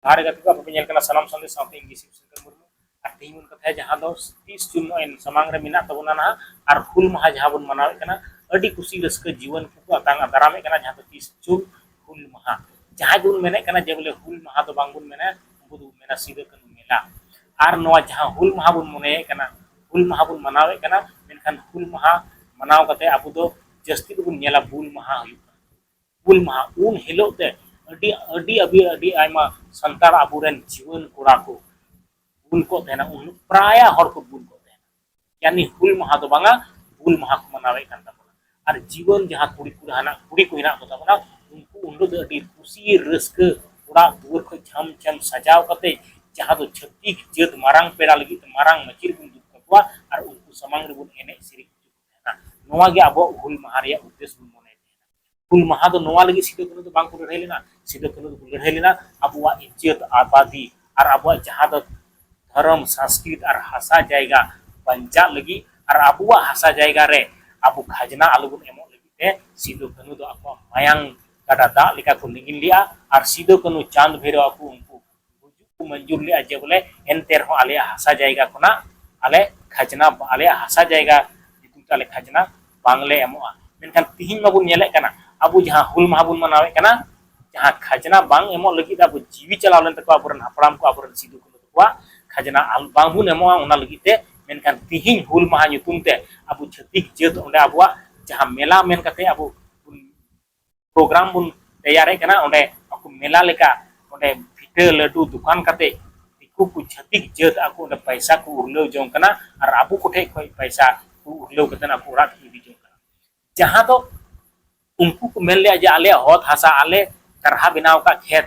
ᱫᱟᱨᱮ ᱜᱟᱛᱮ ᱠᱚ ᱟᱯᱮ ᱧᱮᱞ ᱠᱟᱱᱟ ᱥᱟᱱᱟᱢ ᱥᱟᱱᱫᱮᱥ ᱥᱟᱶᱛᱮ ᱤᱧ ᱜᱤᱥᱤᱯ ᱥᱮᱱᱴᱟᱨ ᱢᱩᱨᱢᱩ ᱟᱨ ᱛᱮᱦᱮᱧ ᱵᱚᱱ ᱠᱟᱛᱷᱟᱭᱟ ᱡᱟᱦᱟᱸ ᱫᱚ ᱛᱤᱥ ᱡᱩᱱ ᱱᱚᱜᱼᱚᱭ ᱥᱟᱢᱟᱝ ᱨᱮ ᱢᱮᱱᱟᱜ ᱛᱟᱵᱚᱱᱟ ᱱᱟᱦᱟᱜ ᱟᱨ ᱦᱩᱞ ᱢᱟᱦᱟ ᱡᱟᱦᱟᱸ ᱵᱚᱱ ᱢᱟᱱᱟᱣᱮᱫ ᱠᱟᱱᱟ ᱟᱹᱰᱤ ᱠᱩᱥᱤ ᱨᱟᱹᱥᱠᱟᱹ ᱡᱤᱣᱟᱹᱱ ᱠᱚᱠᱚ ᱟᱛᱟᱝ ᱫᱟᱨᱟᱢᱮᱫ ᱠᱟᱱᱟ ᱡᱟᱦᱟᱸ ᱫᱚ ᱛᱤᱥ ᱡᱩᱱ ᱦᱩᱞ ᱢᱟᱦᱟ ᱡᱟᱦᱟᱸᱭ ᱵᱚᱱ ᱢᱮᱱᱮᱫ ᱠᱟᱱᱟ ᱡᱮ ᱵᱚᱞᱮ ᱦᱩᱞ ᱢᱟᱦᱟ ᱫᱚ ᱵᱟᱝ ᱵᱚᱱ ᱢᱮᱱᱟ ᱩᱱᱠᱩ ᱫᱚ ᱢᱮᱱᱟ ᱥᱤᱫᱟᱹ ᱠᱟᱹᱱᱩ ᱢᱮᱞᱟ ᱟᱨ ᱱᱚᱣᱟ ᱡᱟᱦᱟᱸ ᱦᱩᱞ ᱢᱟᱦᱟ ᱵᱚᱱ ᱢᱚᱱᱮᱭᱮᱫ ᱠᱟᱱᱟ ᱦᱩᱞ ᱢᱟᱦᱟ ᱵᱚᱱ ᱢᱟᱱᱟᱣᱮᱫ ᱠᱟᱱᱟ ᱢᱮᱱᱠᱷᱟᱱ ᱦᱩᱞ ᱢᱟᱦᱟ ᱢᱟᱱᱟᱣ ᱠᱟᱛᱮ ᱟᱵᱚ ᱫᱚ ᱡᱟᱹᱥᱛᱤ ᱫᱚᱵᱚᱱ ᱧᱮᱞᱟ ᱵᱩᱞ ᱢᱟᱦᱟ ᱦᱩᱭᱩᱜ ᱠᱟᱱᱟ ᱦᱩᱞ ᱢᱟᱦᱟ ᱩᱱ ᱦᱤᱞᱚᱜ ᱛᱮ ᱟᱹᱰᱤ ᱟᱹᱰᱤ ᱟᱹᱰᱤ ᱟᱹᱰᱤ ᱟᱭᱢᱟ ᱥᱟᱱᱛᱟᱲ ᱟᱵᱚᱨᱮᱱ ᱡᱩᱣᱟᱹᱱ ᱠᱚᱲᱟ ᱠᱚ ᱵᱩᱞ ᱠᱚᱜ ᱛᱟᱦᱮᱱᱟ ᱩᱱ ᱯᱨᱟᱭᱟ ᱦᱚᱲ ᱠᱚ ᱵᱩᱞ ᱠᱚᱜ ᱛᱟᱦᱮᱱᱟ ᱡᱟᱱᱤ ᱦᱩᱞ ᱢᱟᱦᱟ ᱫᱚ ᱵᱟᱝᱟ ᱵᱩᱞ ᱢᱟᱦᱟ ᱠᱚ ᱢᱟᱱᱟᱣᱮᱫ ᱠᱟᱱ ᱛᱟᱵᱚᱱᱟ ᱟᱨ ᱡᱩᱣᱟᱹᱱ ᱡᱟᱦᱟᱸ ᱠᱩᱲᱤ ᱠᱚ ᱦᱟᱱᱟ ᱠᱩᱲᱤ ᱠᱚ ᱦᱮᱱᱟᱜ ᱠᱚ ᱛᱟᱵᱚᱱᱟ ᱩᱱᱠᱩ ᱩᱱ ᱦᱤᱞᱚᱜ ᱫᱚ ᱟᱹᱰᱤ ᱠᱩᱥᱤ ᱨᱟᱹᱥᱠᱟᱹ ᱚᱲᱟᱜ ᱫᱩᱣᱟᱹᱨ ᱠᱷᱚᱱ ᱪᱷᱟᱢ ᱪᱷᱟᱢ ᱥᱟᱡᱟᱣ ᱠᱟᱛᱮ ᱡᱟᱦᱟᱸ ᱫᱚ ᱪᱷᱟᱹᱛᱤᱠ ᱡᱟᱹᱛ ᱢᱟᱨᱟᱝ ᱯᱮᱲᱟ ᱞᱟᱹᱜᱤᱫ ᱛᱮ ᱢᱟᱨᱟᱝ ᱢᱟᱹᱪᱤ ᱨᱮᱵᱚᱱ ᱫᱩᱲᱩᱵ ᱠᱟᱠᱚᱣᱟ ᱟᱨ ᱩᱱᱠᱩ ᱥᱟᱢᱟᱝ ᱨᱮᱵᱚᱱ ᱮᱱᱮᱡ ᱥᱮᱨᱮᱧ ᱦᱚᱪᱚ ᱠᱚᱣᱟ ᱱᱚᱣᱟ ᱜᱮ ᱟᱵᱚᱣᱟᱜ ᱦᱩᱞ ᱢᱟᱦᱟ ᱨᱮᱭᱟᱜ ᱩᱫᱽᱫᱮᱥ ᱵᱚᱱ ᱢᱚᱱᱮ ᱛᱟᱦᱮᱱᱟ ᱦᱩᱞ ᱢᱟᱦᱟ ᱫᱚ ᱱᱚᱣᱟ ᱞᱟᱹᱜᱤᱫ ᱥᱤᱫᱩ ᱠᱟᱹᱱᱩ ᱫᱚ ᱵᱟᱝ ᱠᱚ ᱞᱟᱹᱲᱦᱟᱹᱭ ᱞᱮᱱᱟ ᱥᱤᱫᱩ ᱠᱟᱹᱱᱩ ᱫᱚ ᱠᱚ ᱞᱟᱹᱲᱦᱟᱹᱭ ᱞᱮᱱᱟ ᱟᱵᱚᱣᱟᱜ ᱤᱡᱽᱡᱚᱛ ᱟᱵᱟᱫᱤ ᱟᱨ ᱟᱵᱚᱣᱟᱜ ᱡᱟᱦᱟᱸ ᱫᱚ ᱫᱷᱚᱨᱚᱢ ᱥᱟᱝᱥᱠᱨᱤᱛ ᱟᱨ ᱦᱟᱥᱟ ᱡᱟᱭᱜᱟ ᱵᱟᱧᱪᱟᱜ ᱞᱟᱹᱜᱤᱫ ᱟᱨ ᱟᱵᱚᱣᱟᱜ ᱦᱟᱥᱟ ᱡᱟᱭᱜᱟ ᱨᱮ ᱟᱵᱚ ᱠᱷᱟᱡᱽᱱᱟ ᱟᱞᱚ ᱵᱚᱱ ᱮᱢᱚᱜ ᱞᱟᱹᱜᱤᱫ ᱛᱮ ᱥᱤᱫᱩ ᱠᱟᱹᱱᱩ ᱫᱚ ᱟᱠᱚᱣᱟᱜ ᱢᱟᱭᱟᱝ ᱜᱟᱰᱟ ᱫᱟᱜ ᱞᱮᱠᱟ ᱠᱚ ᱞᱤᱸᱜᱤᱱ ᱞᱮᱜᱼᱟ ᱟᱨ ᱥᱤᱫᱩ ᱠᱟᱹᱱᱩ ᱪᱟᱸᱫᱽ ᱵᱷᱟᱭᱨᱚ ᱟᱠᱚ ᱩᱱᱠᱩ ᱜᱩᱡᱩᱜ ᱠᱚ ᱢᱚᱧᱡᱩᱨ ᱞᱮᱫᱼᱟ ᱡᱮ ᱵᱚᱞᱮ ᱮᱱᱛᱮ ᱨᱮᱦᱚᱸ ᱟᱞᱮᱭᱟᱜ ᱦᱟᱥᱟ ᱡᱟᱭᱜᱟ ᱠᱷᱚᱱᱟᱜ ᱟᱞᱮ ᱠᱷᱟᱡᱽᱱᱟ ᱟᱞᱮᱭᱟᱜ ᱦᱟᱥᱟ ᱡᱟᱭᱜᱟ ᱧᱩᱛᱩᱢ ᱛᱮ ᱟᱞᱮ ᱠᱷᱟᱡᱽᱱᱟ ᱵᱟᱝᱞᱮ ᱮᱢᱚᱜᱼᱟ ᱢᱮᱱᱠᱷᱟᱱ ᱛᱤᱦᱤᱧ ᱢᱟᱵᱚᱱ ᱧᱮᱞᱮᱫ ᱠᱟᱱᱟ ᱟᱵᱚ ᱡᱟᱦᱟᱸ ᱦᱩᱞ ᱢᱟᱦᱟ ᱵᱚᱱ ᱢᱟᱱᱟᱣᱮᱫ ᱠᱟᱱᱟ ᱡᱟᱦᱟᱸ ᱠᱷᱟᱡᱽᱱᱟ ᱵᱟᱝ ᱮᱢᱚᱜ ᱞᱟᱹᱜᱤᱫ ᱟᱵᱚ ᱡᱤᱣᱤ ᱪᱟᱞᱟᱣ ᱞᱮᱱ ᱛᱟᱠᱚᱣᱟ ᱟᱵᱚᱨᱮᱱ ᱦᱟᱯᱲᱟᱢ ᱠᱚ ᱟᱵᱚᱨᱮᱱ ᱥᱤᱫᱩ ᱠᱟᱹᱱᱩ ᱛᱟᱠᱚᱣᱟᱜ ᱠᱷᱟᱡᱽᱱᱟ ᱵᱟᱝ ᱵᱚᱱ ᱮᱢᱚᱜᱼᱟ ᱚᱱᱟ ᱞᱟᱹᱜᱤᱫ ᱛᱮ ᱢᱮᱱᱠᱷᱟᱱ ᱛᱤᱦᱤᱧ ᱦᱩᱞ ᱢᱟᱦᱟ ᱧᱩᱛᱩᱢ ᱛᱮ ᱟᱵᱚ ᱪᱷᱟᱹᱛᱤᱠ ᱡᱟᱹᱛ ᱚᱸᱰᱮ ᱟᱵᱚᱣᱟᱜ ᱡᱟᱦᱟᱸ ᱢᱮᱞᱟ ᱢᱮᱱ ᱠᱟᱛᱮᱫ ᱟᱵᱚ ᱯᱨᱳᱜᱨᱟᱢ ᱵᱚᱱ ᱛᱮᱭᱟᱨᱮᱫ ᱠᱟᱱᱟ ᱚᱸᱰᱮ ᱟᱠᱚ ᱢᱮᱞᱟ ᱞᱮᱠᱟ ᱚᱸᱰᱮ ᱵᱷᱤᱴᱟᱹ ᱞᱟᱹᱰᱩ ᱫᱚᱠᱟᱱ ᱠᱟᱛᱮ ᱫᱤᱠᱩ ᱠᱚ ᱪᱷᱟᱹᱛᱤᱠ ᱡᱟᱹᱛ ᱟᱠᱚ ᱚᱸᱰᱮ ᱯᱚᱭᱥᱟ ᱠᱚ ᱩᱨᱞᱟᱹᱣ ᱡᱚᱝ ᱠᱟᱱᱟ ᱟᱨ ᱟᱵᱚ ᱠᱚᱴᱷᱮᱡ ᱠᱷᱚᱡ ᱯᱚᱭᱥᱟ ᱠᱚ ᱩᱨᱞᱟᱹᱣ ᱠᱟᱛᱮ ᱟᱠᱚ ᱚᱲᱟᱜ ᱠᱚ ᱤᱫᱤ ᱡᱚᱝ ᱠᱟᱱᱟ ᱡᱟᱦᱟᱸ ᱫᱚ ᱩᱱᱠᱩ ᱠᱚ ᱢᱮᱱ ᱞᱮᱫᱼᱟ ᱡᱮ ᱟᱞᱮᱭᱟᱜ ᱦᱚᱛ ᱦᱟᱥᱟ ᱟᱞᱮ ᱠᱟᱨᱦᱟ ᱵᱮᱱᱟᱣ ᱟᱠᱟᱫ ᱠᱷᱮᱛ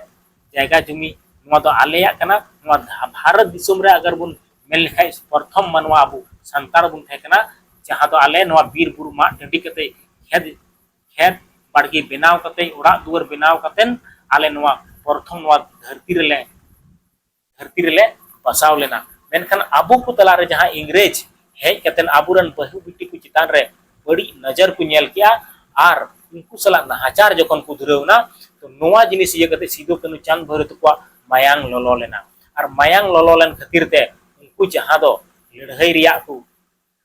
ᱡᱟᱭᱜᱟ ᱡᱩᱢᱤ ᱱᱚᱣᱟ ᱫᱚ ᱟᱞᱮᱭᱟᱜ ᱠᱟᱱᱟ ᱱᱚᱣᱟ ᱵᱷᱟᱨᱚᱛ ᱫᱤᱥᱚᱢ ᱨᱮ ᱟᱜᱟᱨ ᱵᱚᱱ ᱢᱮᱱ ᱞᱮᱠᱷᱟᱡ ᱯᱨᱚᱛᱷᱚᱢ ᱢᱟᱱᱣᱟ ᱟᱵᱚ ᱥᱟᱱᱛᱟᱲ ᱵᱚᱱ ᱛᱟᱦᱮᱸ ᱠᱟᱱᱟ ᱡᱟᱦᱟᱸ ᱫᱚ ᱟᱞᱮ ᱱᱚᱣᱟ ᱵᱤᱨ ᱵᱩᱨᱩ ᱢᱟᱜ ᱴᱟᱺᱰᱤ ᱠᱟᱛᱮ ᱠᱷᱮᱛ ᱠᱷᱮᱛ ᱵᱟᱲᱜᱮ ᱵᱮᱱᱟᱣ ᱠᱟᱛᱮ ᱚᱲᱟᱜ ᱫᱩᱣᱟᱹᱨ ᱵᱮᱱᱟᱣ ᱠᱟᱛᱮ ᱟᱞᱮ ᱱᱚᱣᱟ ᱯᱨᱚᱛᱷᱚᱢ ᱱᱚᱣᱟ ᱫᱷᱟᱹᱨᱛᱤ ᱨᱮᱞᱮ ᱫᱷᱟᱹᱨᱛᱤ ᱨᱮᱞᱮ ᱵᱟᱥᱟᱣ ᱞᱮᱱᱟ ᱢᱮᱱᱠᱷᱟᱱ ᱟᱵᱚ ᱠᱚ ᱛᱟᱞᱟ ᱨᱮ ᱡᱟᱦᱟᱸ ᱤᱝᱨᱮᱡᱽ ᱦᱮᱡ ᱠᱟᱛᱮ ᱟᱵᱚ ᱨᱮᱱ ᱵᱟᱹᱦᱩ ᱵᱤᱴᱤ ᱠᱚ ᱪᱮᱛᱟᱱ ᱨᱮ ᱵᱟᱹᱲᱤᱡ ᱱᱚᱡᱚᱨ ᱠᱚ ᱧᱮᱞ ᱠᱮᱜᱼᱟ ᱟᱨ ᱩᱱᱠᱩ ᱥᱟᱞᱟᱜ ᱱᱟᱦᱟᱪᱟᱨ ᱡᱚᱠᱷᱚᱱ ᱠᱚ ᱫᱷᱩᱨᱟᱹᱣ ᱮᱱᱟ ᱛᱚ ᱱᱚᱣᱟ ᱡᱤᱱᱤᱥ ᱤᱭᱟᱹ ᱠᱟᱛᱮ ᱥᱤᱫᱩ ᱠᱟᱹᱱᱩ ᱪᱟᱸᱫᱽ ᱵᱷᱟᱹᱭᱨᱳ ᱛᱟᱠᱚᱣᱟᱜ ᱢᱟᱭᱟᱝ ᱞᱚᱞᱚ ᱞᱮᱱᱟ ᱟᱨ ᱢᱟᱭᱟᱝ ᱞᱚᱞᱚ ᱞᱮᱱ ᱠᱷᱟᱹᱛᱤᱨ ᱛᱮ ᱩᱱᱠᱩ ᱡᱟᱦᱟᱸ ᱫᱚ ᱞᱟᱹᱲᱦᱟᱹᱭ ᱨᱮᱭᱟᱜ ᱠᱚ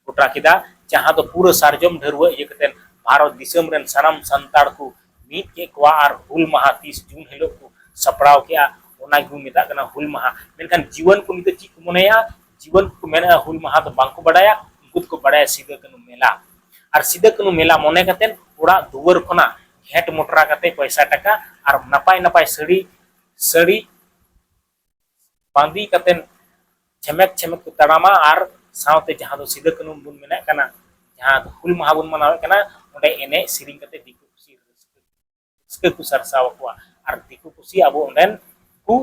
ᱜᱚᱴᱟ ᱠᱮᱫᱟ ᱡᱟᱦᱟᱸ ᱫᱚ ᱯᱩᱨᱟᱹ ᱥᱟᱨᱡᱚᱢ ᱰᱷᱟᱹᱨᱣᱟᱹ ᱤᱭᱟᱹ ᱠᱟᱛᱮ ᱵᱷᱟᱨᱚᱛ ᱫᱤᱥᱚᱢ ᱨᱮᱱ ᱥᱟᱱᱟᱢ ᱥᱟᱱᱛᱟᱲ ᱠᱚ ᱢᱤᱫ ᱠᱮᱫ ᱠᱚᱣᱟ ᱟᱨ ᱦᱩᱞ ᱢᱟᱦᱟ ᱛᱤᱥ ᱡᱩᱱ ᱦᱤᱞᱳᱜ ᱠᱚ ᱥᱟᱯᱲᱟᱣ ᱠᱮᱫᱼᱟ ᱚᱱᱟ ᱜᱮᱵᱚᱱ ᱢᱮᱛᱟᱜ ᱠᱟᱱᱟ ᱦᱩᱞ ᱢᱟᱦᱟ ᱢᱮᱱᱠᱷᱟᱱ ᱡᱩᱣᱟᱹᱱ ᱠᱚ ᱱᱤᱛᱚᱜ ᱪᱮᱫ ᱠᱚ ᱢᱚᱱᱮᱭᱟ ᱡᱩᱣᱟᱹᱱ ᱠᱚ ᱢᱮᱱᱮᱫᱼᱟ ᱦᱩᱞ ᱢᱟᱦᱟ ᱫᱚ ᱵᱟᱝᱠᱚ ᱵᱟᱰᱟᱭᱟ ᱩᱱᱠᱩ ᱫᱚᱠᱚ ᱵᱟᱰᱟᱭᱟ ᱥᱤᱫᱟᱹ ᱠᱟᱹᱱᱩ ᱢᱮᱞᱟ ᱟᱨ ᱥᱤᱫᱟᱹ ᱠᱟᱹᱱᱩ ᱢᱮᱞᱟ ᱢᱚᱱᱮ ᱠᱟᱛᱮ ᱚᱲᱟᱜ ᱫᱩᱣᱟᱹᱨ ᱠᱷᱚᱱᱟᱜ ᱜᱷᱮᱸᱴ ᱢᱚᱴᱨᱟ ᱠᱟᱛᱮ ᱯᱚᱭᱥᱟ ᱴᱟᱠᱟ ᱟᱨ ᱱᱟᱯᱟᱭ ᱱᱟᱯᱟᱭ ᱥᱟᱹᱲᱤ ᱥᱟᱹᱲᱤ ᱵᱟᱸᱫᱤ ᱠᱟᱛᱮᱱ ᱡᱷᱮᱢᱮᱠ ᱡᱷᱮᱢᱮᱠ ᱠᱚ ᱛᱟᱲᱟᱢᱟ ᱟᱨ ᱥᱟᱶᱛᱮ ᱡᱟᱦᱟᱸ ᱫᱚ ᱥᱤᱫᱟᱹ ᱠᱟᱹᱱᱩ ᱵᱚᱱ ᱢᱮᱱᱟᱜ ᱠᱟᱱᱟ ᱡᱟᱦᱟᱸ ᱫᱚ ᱦᱩᱞ ᱢᱟᱦᱟ ᱵᱚᱱ ᱢᱟᱱᱟᱣᱮᱫ ᱠᱟᱱᱟ ᱚᱸᱰᱮ ᱮᱱᱮᱡ ᱥᱮᱨᱮᱧ ᱠᱟᱛᱮ ᱫᱤᱠᱩ ᱯᱩᱥᱤ ᱨᱟᱹᱥᱠᱟᱹ ᱨᱟᱹᱥᱠᱟᱹ ᱠᱚ ᱥᱟᱨᱥᱟᱣ ᱟᱠᱚᱣᱟ ᱟᱨ ᱫᱤᱠᱩ ᱯᱩᱥᱤ ᱟᱵᱚ ᱚᱸᱰᱮᱱ ᱠᱚ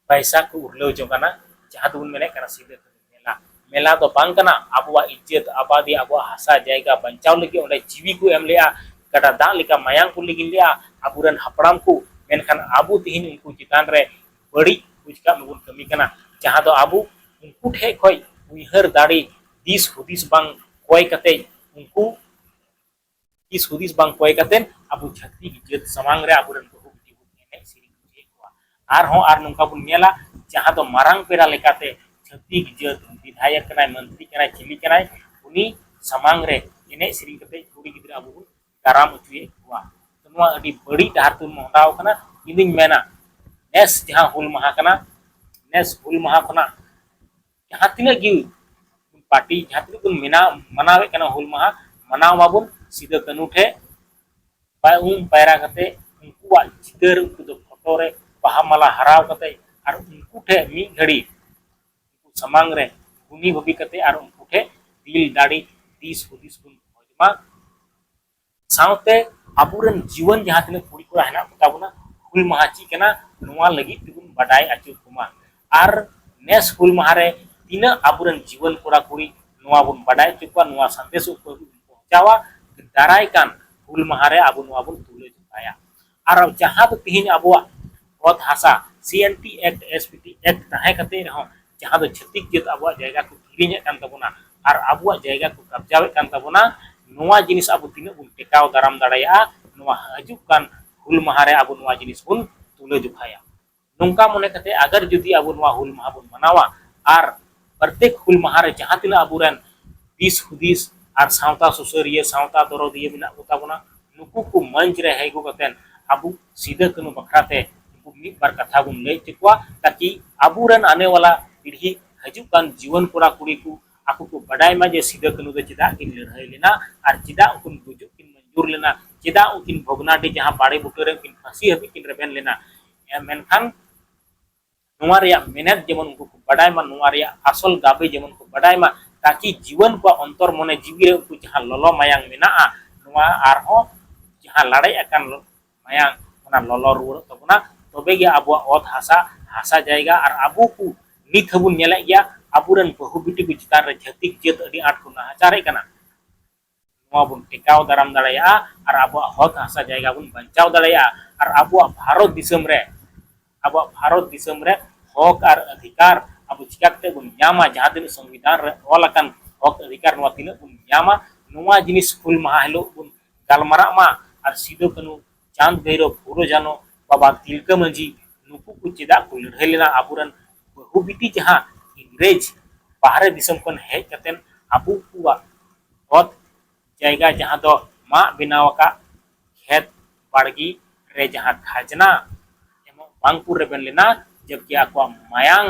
ᱯᱟᱭᱥᱟ ᱠᱚ ᱩᱨᱞᱟᱹᱣ ᱡᱚᱝ ᱠᱟᱱᱟ ᱡᱟᱦᱟᱸ ᱫᱚᱵᱚᱱ ᱢᱮᱱᱮᱫ ᱠᱟᱱᱟ ᱥᱤᱫᱟᱹ ᱠᱟᱹᱱᱩ ᱢᱮᱞᱟ ᱢᱮᱞᱟ ᱫᱚ ᱵᱟᱝ ᱠᱟᱱᱟ ᱟᱵᱚᱣᱟᱜ ᱤᱡᱡᱟᱹᱛ ᱟᱵᱟᱫᱤ ᱟᱵᱚᱣᱟᱜ ᱦᱟᱥᱟ ᱡᱟᱭᱜᱟ ᱵᱟᱧᱪᱟᱣ ᱞᱟᱹᱜᱤᱫ ᱚᱸᱰᱮ ᱡᱤᱣᱤ ᱠᱚ ᱮᱢ ᱞᱮᱫᱼᱟ ᱜᱟᱰᱟ ᱫᱟᱜ ᱞᱮᱠᱟ ᱢᱟᱭᱟᱝ ᱠᱚ ᱞᱤᱸᱜᱤᱱ ᱞᱮᱫᱼᱟ ᱟᱵᱚ ᱨᱮᱱ ᱦᱟᱯᱲᱟᱢ ᱠᱚ ᱢᱮᱱᱠᱷᱟᱱ ᱟᱵᱚ ᱛᱮᱦᱮᱧ ᱩᱱᱠᱩ ᱪᱮᱛᱟᱱ ᱨᱮ ᱵᱟᱹᱲᱤᱡ ᱵᱩᱡᱽ ᱠᱟᱜ ᱢᱮ ᱵᱚᱱ ᱠᱟᱹᱢᱤ ᱠᱟᱱᱟ ᱡᱟᱦᱟᱸ ᱫᱚ ᱟᱵᱚ ᱩᱱᱠᱩ ᱴᱷᱮᱱ ᱠᱷᱚᱱ ᱩᱭᱦᱟᱹᱨ ᱫᱟᱲᱮ ᱫᱤᱥ ᱦᱩᱫᱤᱥ ᱵᱟᱝ ᱠᱚᱭ ᱠᱟᱛᱮᱫ ᱩᱱᱠᱩ ᱫᱤᱥ ᱦᱩᱫᱤᱥ ᱵᱟᱝ ᱠᱚᱭ ᱠᱟᱛᱮ ᱟᱵᱚ ᱪᱷᱟᱹᱛᱤᱠ ᱡᱟᱹᱛ ᱥᱟᱢᱟᱝ ᱨᱮ ᱟᱵᱚᱨᱮᱱ ᱵᱟᱹᱦᱩ ᱵᱤᱴᱤ ᱵᱚᱱ ᱮᱱᱮᱡ ᱥᱮᱨᱮᱧ ᱦᱚᱪᱚᱭᱮᱫ ᱠᱚᱣᱟ ᱟᱨᱦᱚᱸ ᱟᱨ ᱱᱚᱝᱠᱟ ᱵᱚᱱ ᱧᱮᱞᱟ ᱡᱟᱦᱟᱸ ᱫᱚ ᱢᱟᱨᱟᱝ ᱯᱮᱲᱟ ᱞᱮᱠᱟᱛᱮ ᱪᱷᱟᱹᱛᱤᱠ ᱡᱟᱹᱛ ᱵᱤᱫᱷᱟᱭᱚᱠ ᱠᱟᱱᱟᱭ ᱢᱚᱱᱛᱨᱤ ᱠᱟᱱᱟᱭ ᱪᱤᱞᱤ ᱠᱟᱱᱟᱭ ᱩᱱᱤ ᱥᱟᱢᱟᱝ ᱨᱮ ᱮᱱᱮᱡ ᱥᱮᱨᱮᱧ ᱠᱟᱛᱮ ᱠᱩᱲᱤ ᱜᱤᱫᱽᱨᱟᱹ ᱟᱵᱚ ᱵᱚᱱ ᱫᱟᱨᱟᱢ ᱦᱚᱪᱚᱭᱮᱫ ᱠᱚᱣᱟ ᱱᱚᱣᱟ ᱟᱹᱰᱤ ᱵᱟᱹᱲᱤᱡ ᱰᱟᱦᱟᱨ ᱛᱮᱵᱚᱱ ᱢᱚᱦᱰᱟᱣ ᱠᱟᱱᱟ ᱤᱧᱫᱩᱧ ᱢᱮᱱᱟ ᱱᱮᱥ ᱡᱟᱦᱟᱸ ᱦᱩᱞ ᱢᱟᱦᱟ ᱠᱟᱱᱟ ᱱᱮᱥ ᱦᱩᱞ ᱢᱟᱦᱟ ᱠᱷᱚᱱᱟᱜ ᱡᱟᱦᱟᱸ ᱛᱤᱱᱟᱹᱜ ᱜᱮ ᱯᱟᱨᱴᱤ ᱡᱟᱦᱟᱸ ᱛᱤᱱᱟᱹᱜ ᱵᱚᱱ ᱢᱮᱱᱟᱣ ᱢᱟᱱᱟᱣᱮᱫ ᱠᱟᱱᱟ ᱦᱩᱞ ᱢᱟᱦᱟ ᱢᱟᱱᱟᱣ ᱢᱟᱵᱚᱱ ᱥᱤᱫᱟᱹ ᱠᱟᱹᱱᱩ ᱴᱷᱮᱡ ᱯᱟᱭ ᱩᱢ ᱯᱟᱭᱨᱟ ᱠᱟᱛᱮ ᱩᱱᱠᱩᱣᱟᱜ ᱪᱤᱛᱟᱹᱨ ᱩᱱᱠᱩ ᱫᱚ ᱯᱷᱳᱴᱳ ᱨᱮ ᱵᱟᱦᱟ ᱢᱟᱞᱟ ᱦᱟᱨᱟᱣ ᱠᱟᱛᱮ ᱟᱨ ᱩᱱᱠᱩ ᱴᱷᱮᱡ ᱢᱤᱫ ᱜᱷᱟᱹᱲᱤ ᱩᱱᱠᱩ ᱥᱟᱢᱟᱝ ᱨᱮ ᱜᱩᱱᱤ ᱵᱷᱟᱹᱵᱤ ᱠᱟᱛᱮ ᱟᱨ ᱩᱱᱠᱩ ᱴᱷᱮᱡ ᱫᱤᱞ ᱫᱟᱲᱮ ᱫᱤᱥ ᱦᱩᱫᱤᱥ ᱵᱚᱱ ᱠᱷᱚᱡᱽ ᱢᱟ ᱥᱟᱶᱛᱮ ᱟᱵᱚᱨᱮᱱ ᱡᱤᱣᱟᱹᱱ ᱡᱟᱦᱟᱸ ᱛᱤᱱᱟᱹᱜ ᱠᱩᱲᱤ ᱠᱚᱲᱟ ᱦᱮᱱᱟᱜ ᱠᱚᱛᱟ ᱵᱚᱱᱟ ᱦᱩᱞ ᱢᱟᱦᱟ ᱪᱮᱫ ᱠᱟᱱᱟ ᱱᱚᱣᱟ ᱞᱟᱹᱜᱤᱫ ᱛᱮᱵᱚᱱ ᱵᱟᱰᱟᱭ ᱟᱹᱪᱩᱨ ᱠᱚᱢᱟ ᱟᱨ ᱱᱮᱥ ᱦᱩᱞ ᱢᱟᱦᱟ ᱨᱮ ᱛᱤᱱᱟᱹᱜ ᱟᱵᱚᱨᱮᱱ ᱡᱤᱣᱟᱹᱱ ᱠᱚᱲᱟ ᱠᱩᱲᱤ ᱱᱚᱣᱟ ᱵᱚᱱ ᱵᱟᱰᱟᱭ ᱦᱚᱪᱚ ᱠᱚᱣᱟ ᱱᱚᱣᱟ ᱥᱟᱸᱫᱮᱥ ᱩᱱᱠᱩ ᱦᱟᱹᱵᱤᱡ ᱵᱚᱱ ᱯᱚᱦᱪᱟᱣᱟ ᱫᱟᱨᱟᱭ ᱠᱟᱱ ᱦᱩᱞ ᱢᱟᱦᱟ ᱨᱮ ᱟᱵᱚ ᱱᱚᱣᱟ ᱵᱚᱱ ᱛᱩᱞᱟᱹ ᱡᱚᱠᱷᱟᱭᱟ ᱟᱨ ᱡᱟᱦᱟᱸ ᱫᱚ ᱛᱮᱦᱮᱧ ᱟᱵᱚᱣᱟᱜ ᱚᱛ ᱦᱟᱥᱟ C N T act S P T act ᱛᱟᱦᱮᱸ ᱠᱟᱛᱮ ᱨᱮᱦᱚᱸ ᱡᱟᱦᱟᱸ ᱫᱚ ᱪᱷᱟᱹᱛᱤᱠ ᱡᱟᱹᱛ ᱟᱵᱚᱣᱟᱜ ᱡᱟᱭᱜᱟ ᱠᱚ ᱠᱤᱨᱤᱧᱮᱫ ᱠᱟᱱ ᱛᱟᱵᱚᱱᱟ ᱟᱨ ᱟᱵᱚᱣᱟᱜ ᱡᱟᱭᱜᱟ ᱠᱚ ᱠᱟᱵᱡᱟᱣᱮᱫ ᱠᱟᱱ ᱛᱟᱵᱚᱱᱟ ᱱᱚᱣᱟ ᱡᱤᱱᱤᱥ ᱟᱵᱚ ᱛᱤᱱᱟᱹᱜ ᱵᱚᱱ ᱴᱮᱠᱟᱣ ᱫᱟᱨᱟᱢ ᱫᱟᱲᱮᱭᱟᱜᱼᱟ ᱱᱚᱣᱟ ᱦᱤᱡᱩᱜ ᱠᱟᱱ ᱦᱩᱞ ᱢᱟᱦᱟ ᱨᱮ ᱟᱵᱚ ᱱᱚᱣᱟ ᱡᱤᱱᱤᱥ ᱵᱚᱱ ᱛᱩᱞᱟᱹ ᱡᱚᱠᱷᱟᱭᱟ ᱱᱚᱝᱠᱟ ᱢᱚᱱᱮ ᱠᱟᱛᱮ ᱟᱜᱟᱨ ᱡᱩᱫᱤ ᱟᱵᱚ ᱱᱚᱣᱟ ᱦᱩᱞ ᱢᱟᱦᱟ ᱵᱚᱱ ᱢᱟᱱᱟᱣᱟ ᱟᱨ ᱯᱨᱚᱛᱮᱠ ᱦᱩᱞ ᱢᱟᱦᱟ ᱨᱮ ᱡᱟᱦᱟᱸ ᱛᱤᱱᱟᱹᱜ ᱟᱵᱚ ᱨᱮᱱ ᱫᱤᱥ ᱦᱩᱫᱤᱥ ᱟᱨ ᱥᱟᱶᱛᱟ ᱥᱩᱥᱟᱹᱨᱤᱭᱟᱹ ᱥᱟᱶᱛᱟ ᱫᱚᱨᱚᱫᱤᱭᱟᱹ ᱢᱮᱱᱟᱜ ᱠᱚ ᱛᱟᱵᱚᱱᱟ ᱱᱩᱠᱩ ᱠᱚ ᱢᱚᱧᱪ ᱨᱮ ᱦᱮᱡ ᱟᱹᱜᱩ ᱠᱟᱛᱮ ᱟᱵᱚ ᱥᱤᱫᱟᱹ ᱠᱟᱹᱱᱦᱩ ᱵᱟᱠᱷᱨᱟ ᱛᱮ ᱩᱱᱠᱩ ᱢᱤᱫ ᱵᱟᱨ ᱠᱟᱛᱷᱟ ᱵᱚᱱ ᱞᱟᱹᱭ ᱦᱚᱪᱚ ᱠᱚᱣᱟ ᱛᱟᱠᱤ ᱟᱵᱚ ᱨᱮᱱ ᱟᱱᱮ ᱣᱟᱞᱟ ᱯᱤᱲᱦᱤ ᱦᱤᱡᱩᱜ ᱠᱟᱱ ᱡᱩᱣᱟᱹᱱ ᱠᱚᱲᱟ ᱠᱩᱲᱤ ᱠᱚ ᱟᱠᱚ ᱠᱚ ᱵᱟᱰᱟᱭ ᱢᱟ ᱡᱮ ᱥᱤᱫᱟᱹ ᱠᱟᱹᱱᱦᱩ ᱫᱚ ᱪᱮᱫᱟᱜ ᱠᱤᱱ ᱞᱟᱹᱲᱦᱟᱹᱭ ᱞᱮᱱᱟ ᱟᱨ ᱪᱮᱫᱟᱜ ᱩᱱᱠᱤᱱ ᱜᱩᱡᱩᱜ ᱠᱤᱱ ᱢᱚᱧᱡᱩᱨ ᱞᱮᱱᱟ ᱪᱮᱫᱟᱜ ᱩᱱᱠᱤᱱ ᱵᱷᱚᱜᱽᱱᱟᱰᱤ ᱡᱟᱦᱟᱸ ᱵᱟᱲᱮ ᱵᱩᱴᱟᱹ ᱨᱮ ᱩᱱᱠᱤᱱ ᱯᱷᱟᱹᱥᱤ ᱦᱟᱹᱵᱤᱡ ᱠᱤᱱ ᱨᱮᱵᱮᱱ ᱞᱮᱱᱟ ᱢᱮᱱᱠᱷᱟᱱ ᱱᱚᱣᱟ ᱨᱮᱭᱟᱜ ᱢᱮᱱᱮᱛ ᱡᱮᱢᱚᱱ ᱩᱱᱠᱩ ᱠᱚ ᱵᱟᱰᱟᱭ ᱢᱟ ᱱᱚᱣᱟ ᱨᱮᱭᱟᱜ ᱟᱥᱚᱞ ᱜᱟᱵᱮ ᱡᱮᱢᱚᱱ ᱠᱚ ᱵᱟᱰᱟᱭ ᱢᱟ ᱛᱟᱠᱤ ᱡᱤᱣᱟᱹᱱ ᱠᱚᱣᱟᱜ ᱚᱱᱛᱚᱨ ᱢᱚᱱᱮ ᱡᱤᱣᱤ ᱨᱮ ᱩᱱᱠᱩ ᱡᱟᱦᱟᱸ ᱞᱚᱞᱚ ᱢᱟᱭᱟᱝ ᱢᱮᱱᱟᱜᱼᱟ ᱱᱚᱣᱟ ᱟᱨᱦᱚᱸ ᱡᱟᱦᱟᱸ ᱞᱟᱲᱮᱡ ᱟᱠᱟᱱ ᱢᱟᱭᱟᱝ ᱚᱱᱟ ᱞᱚᱞᱚ ᱨᱩᱣᱟᱹᱲᱚᱜ ᱛᱟᱵᱚᱱᱟ ᱛᱚᱵᱮ ᱜᱮ ᱟᱵᱚᱣᱟᱜ ᱚᱛ ᱦᱟᱥᱟ ᱦᱟᱥᱟ ᱡᱟᱭᱜᱟ ᱟᱨ ᱟᱵᱚ ᱠᱚ ᱱᱤᱛ ᱦᱚᱸᱵᱚᱱ ᱧᱮᱞᱮᱫ ᱜᱮᱭᱟ ᱟᱵᱚᱨᱮᱱ ᱵᱟᱹᱦᱩ ᱵᱤᱴᱤ ᱠᱚ ᱪᱮᱛᱟᱱ ᱨᱮ ᱪᱷᱟᱹᱛᱤᱠ ᱡᱟᱹᱛ ᱟᱹᱰᱤ ᱟᱸᱴ ᱠᱚ ᱱᱟᱦᱟᱪᱟᱨᱮᱫ ᱠᱟᱱᱟ ᱱᱚᱣᱟ ᱵᱚᱱ ᱴᱮᱠᱟᱣ ᱫᱟᱨᱟᱢ ᱫᱟᱲᱮᱭᱟᱜᱼᱟ ᱟᱨ ᱟᱵᱚᱣᱟᱜ ᱦᱚᱠ ᱦᱟᱥᱟ ᱡᱟᱭᱜᱟ ᱵᱚᱱ ᱵᱟᱧᱪᱟᱣ ᱫᱟᱲᱮᱭᱟᱜᱼᱟ ᱟᱨ ᱟᱵᱚᱣᱟᱜ ᱵᱷᱟᱨᱚᱛ ᱫᱤᱥᱚᱢ ᱨᱮ ᱟᱵᱚᱣᱟᱜ ᱵᱷᱟᱨᱚᱛ ᱫᱤᱥᱚᱢ ᱨᱮ ᱦᱚᱠ ᱟᱨ ᱚᱫᱷᱤᱠᱟᱨ ᱟᱵᱚ ᱪᱤᱠᱟᱹ ᱠᱟᱛᱮᱫ ᱵᱚᱱ ᱧᱟᱢᱟ ᱡᱟᱦᱟᱸ ᱛᱤᱱᱟᱹᱜ ᱥᱚᱝᱵᱤᱫᱷᱟᱱ ᱨᱮ ᱚᱞ ᱟᱠᱟᱱ ᱦᱚᱠ ᱚᱫᱷᱤᱠᱟᱨ ᱱᱚᱣᱟ ᱛᱤᱱᱟᱹᱜ ᱵᱚᱱ ᱧᱟᱢᱟ ᱱᱚᱣᱟ ᱡᱤᱱᱤᱥ ᱦᱩᱞ ᱢᱟᱦᱟ ᱦᱤᱞᱳᱜ ᱵᱚᱱ ᱜᱟᱞᱢᱟᱨᱟᱜ ᱢᱟ ᱟᱨ ᱥᱤᱫᱩ ᱠᱟᱹᱱᱦᱩ ᱪᱟᱸᱫᱽ ᱵᱷᱟᱹᱭᱨᱚᱵᱽ ᱯᱷᱩᱞᱚ ᱡᱷᱟᱱᱚ ᱵᱟᱵᱟ ᱛᱤᱞᱠᱟᱹ ᱢᱟᱹᱡᱷᱤ ᱱᱩᱠᱩ ᱠᱚ ᱪᱮᱫᱟᱜ ᱠᱚ ᱞᱟᱹᱲᱦᱟᱹᱭ ᱞᱮᱱᱟ ᱟᱵᱚᱨᱮᱱ ᱵᱟᱹᱦᱩ ᱵᱤᱴᱤ ᱡᱟᱦᱟᱸ ᱤᱝᱨᱮᱡᱽ ᱵᱟᱦᱨᱮ ᱫᱤᱥᱚᱢ ᱠᱷᱚᱱ ᱦᱮᱡ ᱠᱟᱛᱮ ᱟᱵᱚ ᱠᱚᱣᱟᱜ ᱚᱛ ᱡᱟᱭᱜᱟ ᱡᱟᱦᱟᱸ ᱫᱚ ᱢᱟᱜ ᱵᱮᱱᱟᱣ ᱟᱠᱟᱫ ᱠᱷᱮᱛ ᱵᱟᱲᱜᱮ ᱨᱮ ᱡᱟᱦᱟᱸ ᱠᱷᱟᱡᱽᱱᱟ ᱮᱢᱚᱜ ᱵᱟᱝ ᱠᱚ ᱨᱮᱵᱮᱱ ᱞᱮᱱᱟ ᱡᱚᱵᱠᱤ ᱟᱠᱚᱣᱟᱜ ᱢᱟᱭᱟᱝ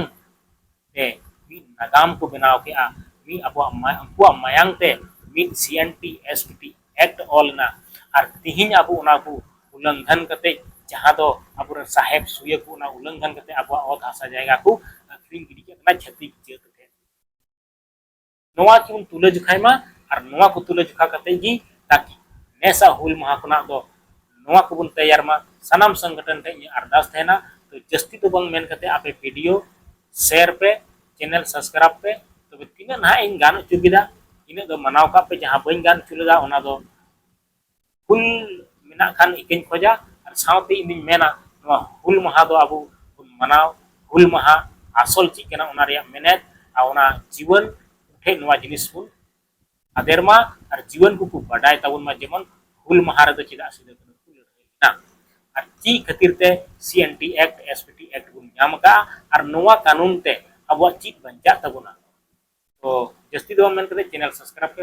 ᱛᱮ ᱢᱤᱫ ᱱᱟᱜᱟᱢ ᱠᱚ ᱵᱮᱱᱟᱣ ᱠᱮᱫᱼᱟ ᱢᱤᱫ ᱟᱵᱚᱣᱟᱜ ᱩᱱᱠᱩᱣᱟᱜ ᱢᱟᱭᱟᱝ ᱛᱮ ᱢᱤᱫ C N T S T T act ᱚᱞ ᱮᱱᱟ ᱟᱨ ᱛᱮᱦᱮᱧ ᱟᱵᱚ ᱚᱱᱟ ᱠᱚ ᱩᱞᱞᱚᱝᱜᱷᱚᱱ ᱠᱟᱛᱮᱫ ᱡᱟᱦᱟᱸ ᱫᱚ ᱟᱵᱚ ᱨᱮᱱ ᱥᱟᱦᱮᱵᱽ ᱥᱩᱭᱟᱹ ᱠᱚ ᱚᱱᱟ ᱩᱞᱞᱚᱝᱜᱷᱚᱱ ᱠᱟᱛᱮᱫ ᱟᱵᱚᱣᱟᱜ ᱚᱛ ᱦᱟᱥᱟ ᱡᱟᱭᱜᱟ ᱠᱚ ᱟᱹᱠᱷᱨᱤᱧ ᱜᱤᱰᱤ ᱠᱮᱫ ᱛᱟᱵᱚᱱᱟ ᱪᱷᱟᱹᱛᱤᱠ ᱡᱟᱹᱛ ᱴᱷᱮᱱ ᱱᱚᱣᱟ ᱠᱤᱵᱚᱱ ᱛᱩᱞᱟᱹ ᱡᱚᱠᱷᱟᱭ ᱢᱟ ᱟᱨ ᱱᱚᱣᱟ ᱠᱚ ᱛᱩᱞᱟᱹ ᱡᱚᱠᱷᱟ ᱠᱟᱛᱮ ᱜᱮ ᱛᱟᱠᱤ ᱱᱮᱥᱟ ᱦᱩᱞ ᱢᱟᱦᱟ ᱠᱷᱚᱱᱟᱜ ᱫᱚ ᱱᱚᱣᱟ ᱠᱚᱵᱚᱱ ᱛᱮᱭᱟᱨ ᱢᱟ ᱥᱟᱱᱟᱢ ᱥᱚᱝᱜᱚᱴᱷᱚᱱ ᱴᱷᱮᱱ ᱤᱧᱟᱹᱜ ᱟᱨᱫᱟᱥ ᱛᱟᱦᱮᱱᱟ ᱛᱚ ᱡᱟᱹᱥᱛᱤ ᱫᱚ ᱵᱟᱝ ᱢᱮᱱ ᱠᱟᱛᱮ ᱟᱯᱮ ᱵᱷᱤᱰᱤᱭᱳ ᱥᱮᱭᱟᱨ ᱯᱮ ᱪᱮᱱᱮᱞ ᱥᱟᱵᱥᱠᱨᱟᱭᱤᱵ ᱯᱮ ᱛᱚᱵᱮ ᱛᱤᱱᱟᱹᱜ ᱱᱟᱦᱟᱜ ᱤᱧ ᱜᱟᱱ ᱦᱚᱪᱚ ᱠᱮᱫᱟ ᱤᱱᱟᱹᱜ ᱫᱚ ᱢᱟᱱᱟᱣ ᱠᱟᱜ ᱯᱮ ᱡᱟᱦᱟᱸ ᱵᱟᱹᱧ ᱜᱟᱱ ᱦᱚᱪᱚ ᱞᱮᱫᱟ ᱚᱱᱟ ᱫᱚ ᱦᱩᱞ ᱢᱮᱱᱟᱜ ᱠᱷᱟᱱ ᱤᱠᱟᱹᱧ ᱠᱷᱚᱡᱟ ᱟᱨ ᱥᱟᱶᱛᱮ ᱤᱧ ᱫᱩᱧ ᱢᱮᱱᱟ ᱱᱚᱣᱟ ᱦᱩᱞ ᱢᱟᱦᱟ ᱫᱚ ᱟᱵᱚ ᱵᱚᱱ ᱢᱟᱱᱟᱣ ᱦᱩᱞ ᱢᱟᱦᱟ ᱟᱥᱚᱞ ᱪᱮᱫ ᱠᱟᱱᱟ ᱚᱱᱟ ᱨᱮᱭᱟᱜ ᱢᱮᱱᱮᱛ ᱟᱨ ᱚᱱᱟ ᱡᱤᱣᱟᱹᱱ ᱴᱷᱮᱡ ᱱᱚᱣᱟ ᱡᱤᱱᱤᱥ ᱵᱚᱱ ᱟᱫᱮᱨ ᱢᱟ ᱟᱨ ᱡᱤᱣᱟᱹᱱ ᱠᱚᱠᱚ ᱵᱟᱰᱟᱭ ᱛᱟᱵᱚᱱ ᱢᱟ ᱡᱮᱢᱚᱱ ᱦᱩᱞ ᱢᱟᱦᱟ ᱨᱮᱫᱚ ᱪᱮᱫᱟᱜ ᱥᱤᱫᱩ ᱠᱟᱹᱱᱦᱩ ᱠᱚ ᱞᱟᱹᱲᱦᱟᱹᱭ ᱞᱮᱱᱟ ᱟᱨ ᱪᱮᱫ ᱠᱷᱟᱹᱛᱤᱨ ᱛᱮ C N T act S P T act ᱵᱚᱱ ᱧᱟᱢ ᱟᱠᱟᱫᱼᱟ ᱟᱨ ᱱᱚᱣᱟ ᱠᱟᱹᱱᱩᱱ ᱛᱮ ᱟᱵᱚᱣᱟᱜ ᱪᱮᱫ ᱵᱟᱧᱪᱟᱜ ᱛᱟᱵᱚᱱᱟ ᱛᱚ ᱡᱟᱹᱥᱛᱤ ᱫᱚ ᱵᱟᱝ ᱢᱮᱱ ᱠᱟᱛᱮ ᱪᱮᱱᱮᱞ ᱥᱟᱵᱥᱠᱨᱟᱭᱤᱵᱽ ᱯᱮ